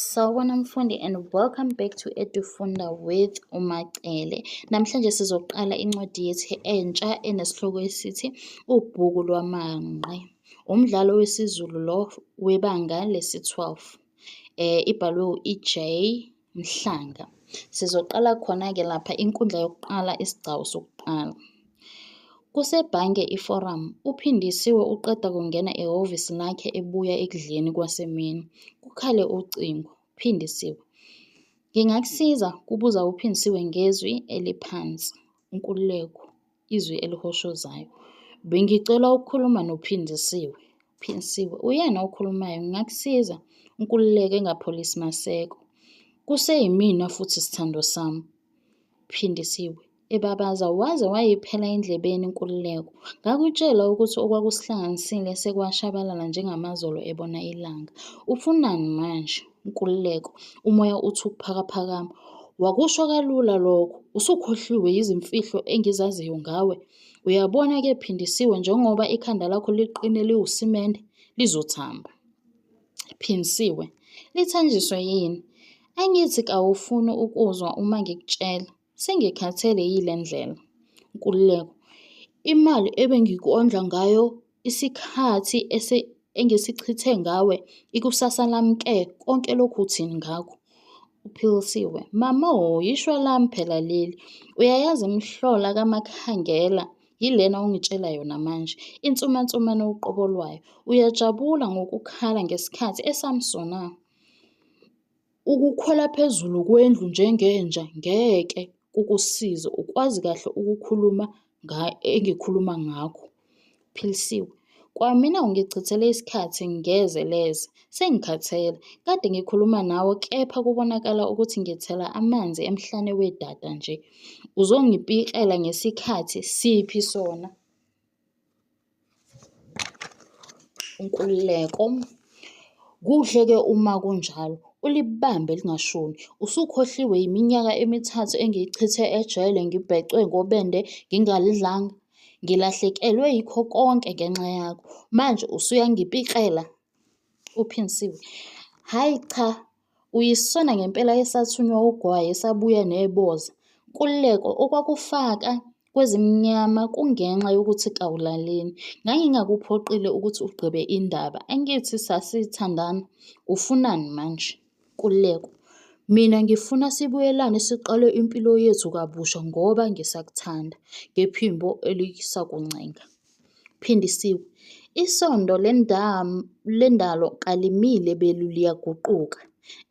Sawubona mfundi and welcome back to Edufunda with uMacele. Namhlanje sizoqala incwadi yethu entsha enesihloko esithi Ubhuku lwamanqe. Umdlalo wesiZulu lo webanga lesi-12. Eh ibhalwe u-EJ Mhlanga. Sizoqala khona-ke lapha inkundla yokuqala isigcawu sokuqala. Kusebhange iForum, uPhindisiwe uqeda kungena ehhovisi lakhe ebuya ekudleni kwasemini. Kukhale ucingo. Phindisiwe. Ngingakusiza? kubuza uPhindisiwe ngezwi eliphansi. Nkululeko, izwi elihoshozayo. Bengicela ukukhuluma noPhindisiwe. Phindisiwe, uyena okhulumayo, ngingakusiza? Nkululeko engapholisi maseko. Kuseyimina futhi sithando sami. Phindisiwe, ebabaza, waze wayiphela endlebeni Nkululeko. Ngakutshela ukuthi okwakusihlanganisile sekwashabalala njengamazolo ebona ilanga. Ufunani manje? Nkululeko, umoya uthi ukuphakaphakama. Wakusho kalula lokho. Usukhohliwe yizimfihlo engizaziyo ngawe. Uyabona ke Phindisiwe njengoba ikhanda lakho liqine liwusimende lizothamba. Phindisiwe, lithanjiswe yini? Angithi kawufuni ukuzwa uma ngikutshela. Sengikhathele yile ndlela. Nkululeko, Imali ebengikondla ngayo isikhathi engisichithe ngawe ikusasa lami ke konke lokhu uthini ngakho? Uphilisiwe, Mama o yishwa lami phela leli. Uyayazi imihlola kaMakhangela yilena ongitshela yona manje. Insumansumane uqobo lwayo. Uyajabula ngokukhala ngesikhathi esamsona. Ukukhwela phezulu kwendlu njengenja ngeke kukusize ukwazi kahle ukukhuluma engikhuluma ngakho. Philisiwe, Kwamina ungichithele isikhathi ngeze leze. Sengikhathele. Kade ngikhuluma nawe kepha kubonakala ukuthi ngithela amanzi emhlane wedada nje. Uzongipikela ngesikhathi siphi sona? Nkululeko, Kuhle-ke uma kunjalo, ulibambe lingashoni. Usukhohliwe yiminyaka emithathu engiyichithe ejele ngibhecwe ngobende ngingalidlanga? Ngilahlekelwe yikho konke ngenxa yakho, manje usuyangipikela? UPhindisiwe, Hhayi cha, Uyisona ngempela esathunywa ugwayi esabuya neboza. Nkululeko, Okwakufaka kwezimnyama kungenxa yokuthi kawulaleli. Ngangingakuphoqile ukuthi ugqibe indaba. Angithi sasithandana? Ufunani manje? Nkululeko, Mina ngifuna sibuyelane siqale impilo yethu kabusha ngoba ngisakuthanda. Ngephimbo elisakuncenga. Phindisiwe, Isondo lendalo kalimile belu liyaguquka.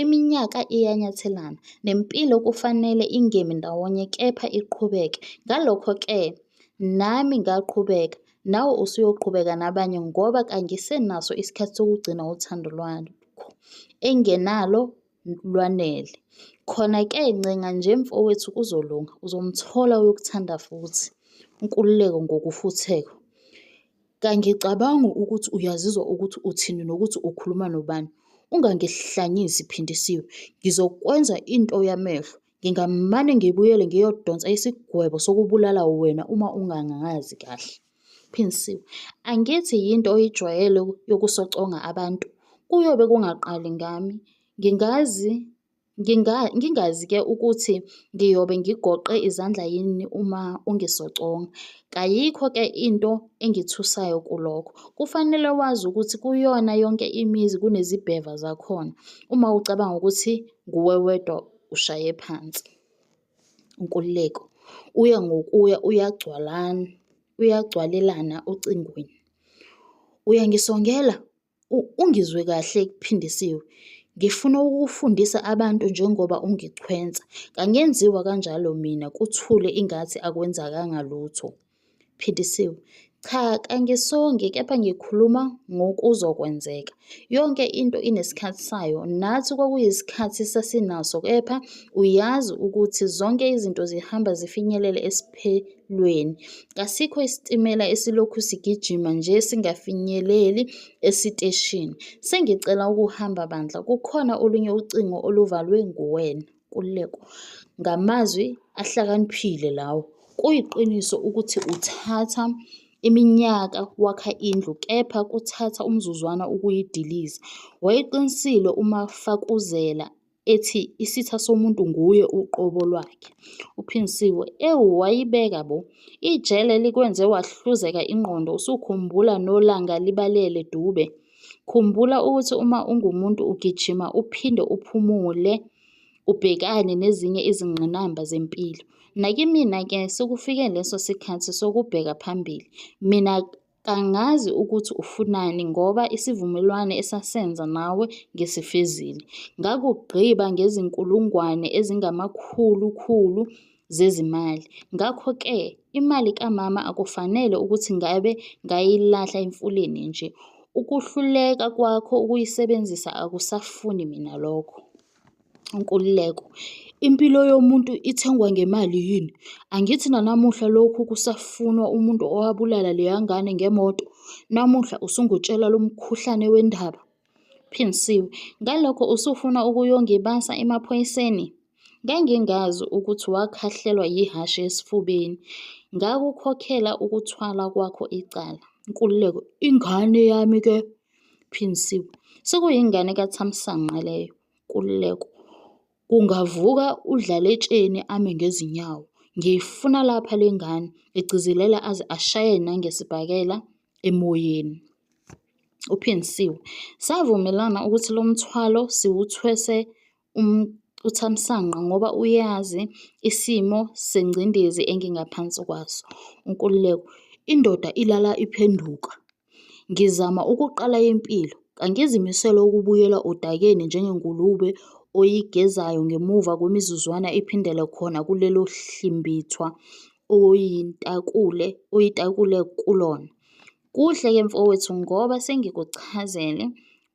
Iminyaka iyanyathelana, nempilo kufanele ingemi ndawonye kepha iqhubeke. Ngalokho-ke nami ngaqhubeka, nawe usuyoqhubeka nabanye ngoba kangisenaso isikhathi sokugcina uthando lwakho engenalo lwanele. Khona-ke ncenga nje mfowethu kuzolunga, uzomthola oyokuthanda futhi. Nkululeko ngokufutheka. Kangicabangi ukuthi uyazizwa ukuthi uthini nokuthi ukhuluma nobani. Ungangihlanyisi Phindisiwe. Ngizokwenza into yamehlo. Ngingamane ngibuyele ngiyodonsa isigwebo sokubulala wena uma ungangazi kahle. Phinsiwe, Angithi yinto oyijwayele yokusoconga abantu. Kuyobe kungaqali ngami. Ngingazi nginga, ngingazi ke ukuthi ngiyobe ngigoqe izandla yini uma ungisoconga. Kayikho ke into engithusayo kulokho. Kufanele wazi ukuthi kuyona yonke imizi kunezibheva zakhona. Uma ucabanga ukuthi nguwe wedwa ushaye phansi. Nkululeko, Uya ngokuya uyagcwalana uyagcwalelana ocingweni. Uyangisongela ungizwe kahle kuphindisiwe. Ngifuna ukufundisa abantu njengoba ungichwensa. Kangenziwa kanjalo mina kuthule ingathi akwenzakanga lutho. Phindisiwe, Cha kangisongi kepha ngikhuluma ngokuzokwenzeka. Yonke into inesikhathi sayo, nathi kwakuyisikhathi sasinaso kepha uyazi ukuthi zonke izinto zihamba zifinyelele esiphelweni. Kasikho isitimela esilokhu sigijima nje singafinyeleli esiteshini. Sengicela ukuhamba bandla, kukhona olunye ucingo oluvalwe nguwena. Nkululeko, Ngamazwi ahlakaniphile lawo. Kuyiqiniso ukuthi uthatha iminyaka wakha indlu kepha kuthatha umzuzwana ukuyidiliza. Wayeqinisile uMafakuzela ethi isitha somuntu nguye uqobo lwakhe. UPhinsiwe, Ewu wayibeka bo! Ijele likwenze wahluzeka ingqondo usukhumbula nolanga libalele dube. Khumbula ukuthi uma ungumuntu ugijima uphinde uphumule ubhekane nezinye izingqinamba zempilo. Nakimina-ke sekufike leso sikhathi sokubheka phambili. Mina kangazi ukuthi ufunani ngoba isivumelwano esasenza nawe ngisifezile. Ngakugqiba ngezinkulungwane ezingamakhulukhulu zezimali. Ngakho-ke imali kamama akufanele ukuthi ngabe ngayilahla emfuleni nje. Ukuhluleka kwakho ukuyisebenzisa akusafuni mina lokho. Nkululeko, Impilo yomuntu ithengwa ngemali yini? Angithi nanamuhla lokhu kusafunwa umuntu owabulala leya ngane ngemoto? Namuhla usungitshela lo mkhuhlane wendaba? Phindisiwe, Ngalokho usufuna ukuyongibasa emaphoyiseni? Ngangingazi ukuthi wakhahlelwa yihhashi esifubeni. Ngakukhokhela ukuthwala kwakho icala. Nkululeko, Ingane yami ke? Phindisiwe, Sekuyingane kaThamsanqa leyo. Nkululeko, Kungavuka uDlaletsheni ame ngezinyawo. Ngiyifuna lapha le ngane, egcizelela aze ashaye nangesibhakela emoyeni. Uphinsile. Savumelana ukuthi lo mthwalo siwuthwese um, uThamsanqa ngoba uyazi isimo sengcindezi engingaphansi kwaso. UNkululeko. Indoda ilala iphenduka. Ngizama ukuqala impilo. Kangizimisele ukubuyela odakeni njengengulube oyigezayo ngemuva kwemizuzwana iphindele khona kulelo hlimbithwa oyintakule oyitakule kulona. Kuhle ke mfowethu ngoba sengikuchazele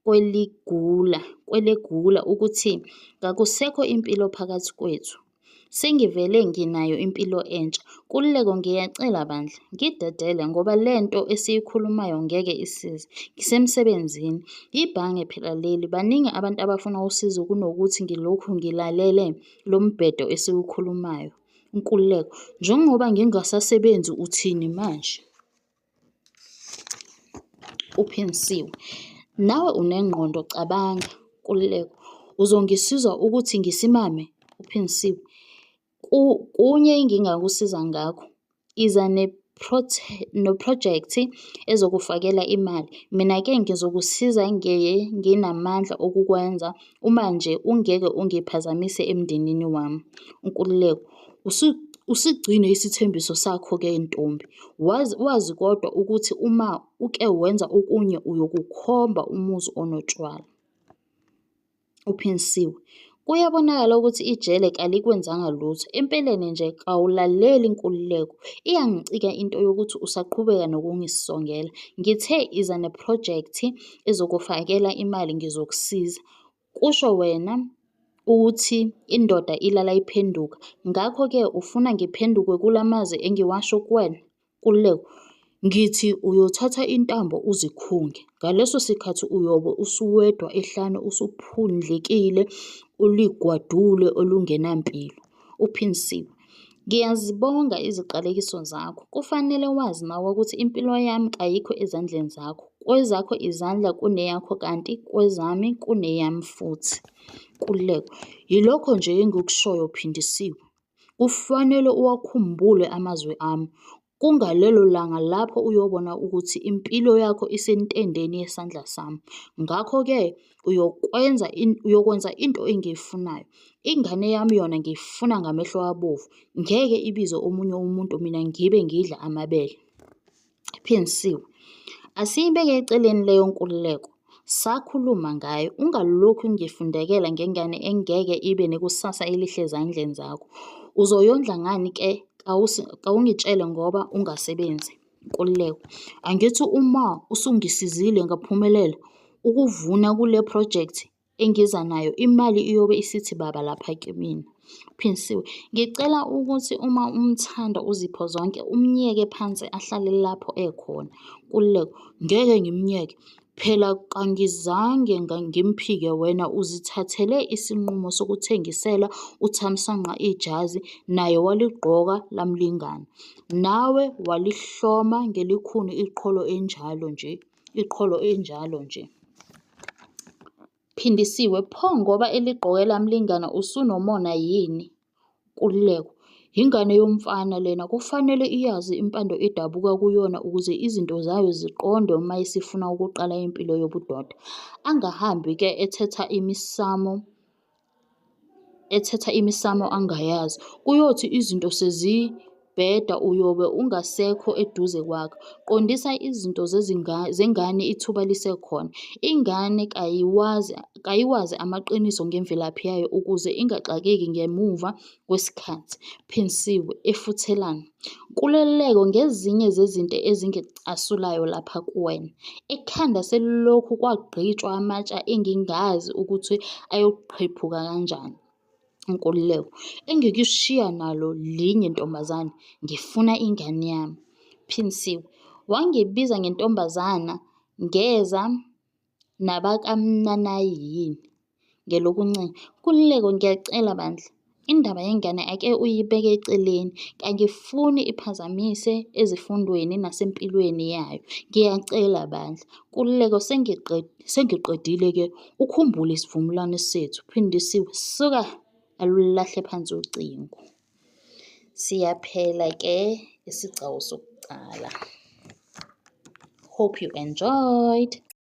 kweligula kwelegula ukuthi kakusekho impilo phakathi kwethu. Sengivele nginayo impilo entsha. Nkululeko, Ngiyacela bandla, ngidedele ngoba le nto esiyikhulumayo ngeke isize. Ngisemsebenzini. Yibhange phela leli. Baningi abantu abafuna usizo kunokuthi ngilokhu ngilalele lo mbhedo esiwukhulumayo. Nkululeko, Njengoba ngingasasebenzi uthini manje? uphinsiwe nawe unengqondo cabanga kululeko uzongisiza ukuthi ngisimame uphinsiwe kunye engingakusiza ngakho iza noprojekthi ezokufakela imali mina-ke ngizokusiza ngeye nginamandla okukwenza uma nje ungeke ungiphazamise emndenini wami unkululeko Usigcine isithembiso sakho-ke ntombi, wazi, wazi kodwa ukuthi uma uke wenza okunye uyokukhomba umuzi onotshwala. Uphinsiwe. Kuyabonakala ukuthi ijele kalikwenzanga lutho. Empeleni nje kawulaleli inkululeko. Iyangicika into yokuthi usaqhubeka nokungisongela. Ngithe iza neprojekthi ezokufakela imali ngizokusiza. Kusho wena ukuthi indoda ilala iphenduka, ngakho-ke ufuna ngiphenduke kula mazwi engiwasho kuwena? Nkululeko, Ngithi uyothatha intambo uzikhunge. Ngaleso sikhathi uyobe usuwedwa ehlane usuphundlekile, uligwadule olungenampilo. Uphinsiwe, Ngiyazibonga iziqalekiso zakho. Kufanele wazi nawe ukuthi impilo yami kayikho ezandleni zakho. Kwezakho izandla kuneyakho kanti kwezami kuneyami futhi. Kululeko. Yilokho nje engikushoyo phindisiwe. Kufanele uwakhumbule amazwi ami. Kungalelo langa lapho uyobona ukuthi impilo yakho isentendeni yesandla sami. Ngakho-ke uyokwenza uyokwenza into engiyifunayo. Ingane yami yona ngiyifuna ngamehlo abovu. Ngeke ibize omunye umuntu mina ngibe ngidla amabele. Ephensiwe. Asiyibeke eceleni leyo nkululeko. Sakhuluma ngayo, ungalokhu ngifundekela ngengane engeke ibe nekusasa elihle ezandleni zakho. Uzoyondla ngani ke kawungitshele ngoba ungasebenzi. Nkululeko, angithi uma usungisizile ngaphumelela ukuvuna kule phrojekthi engiza nayo imali iyobe isithi baba lapha kimina Phinsiwe, ngicela ukuthi uma umthanda uzipho zonke umyeke phansi ahlale lapho ekhona. Kululeko, ngeke ngimyeke. Phela kangizange ngimphike wena uzithathele isinqumo sokuthengisela uThamsanqa ijazi naye waligqoka lamlingana. Nawe walihloma ngelikhuni iqholo enjalo nje. iqholo enjalo nje. Phindisiwe, pho ngoba eligqoke lamlingana usunomona yini? Nkululeko, yingane yomfana lena kufanele iyazi impando edabuka kuyona ukuze izinto zayo ziqonde uma isifuna ukuqala impilo yobudoda. Angahambi ke ethetha imisamo ethetha imisamo angayazi. Kuyothi izinto sezibheda uyobe ungasekho eduze kwakhe. Qondisa izinto zengane ithuba lisekhona. Ingane kayiwazi amaqiniso ngemvelaphi yayo ukuze ingaxakeki ngemuva kwesikhathi, Phinsiwe, efuthelana, Nkululeko ngezinye zezinto ezingicasulayo lapha kuwena. Ekhanda selilokhu kwagqitshwa amatsha engingazi ukuthi ayoqhephuka kanjani. Nkululeko, Engikushiya nalo linye ntombazane, ngifuna ingane yami. Phinsiwe, Wangibiza ngentombazana ngeza nabakaMnanayi yini? Ngelokunxele, Nkululeko, ngiyacela bandla, indaba yengane ake uyibeke eceleni. Kangifuni iphazamise ezifundweni nasempilweni yayo. Ngiyacela bandla. Nkululeko, Sengiqedile-ke. Ukhumbule isivumelwano sethu. Phindisiwe, Suka! Alulahle phansi ucingo. Siyaphela-ke isigcawu sokuqala. Hope you enjoyed.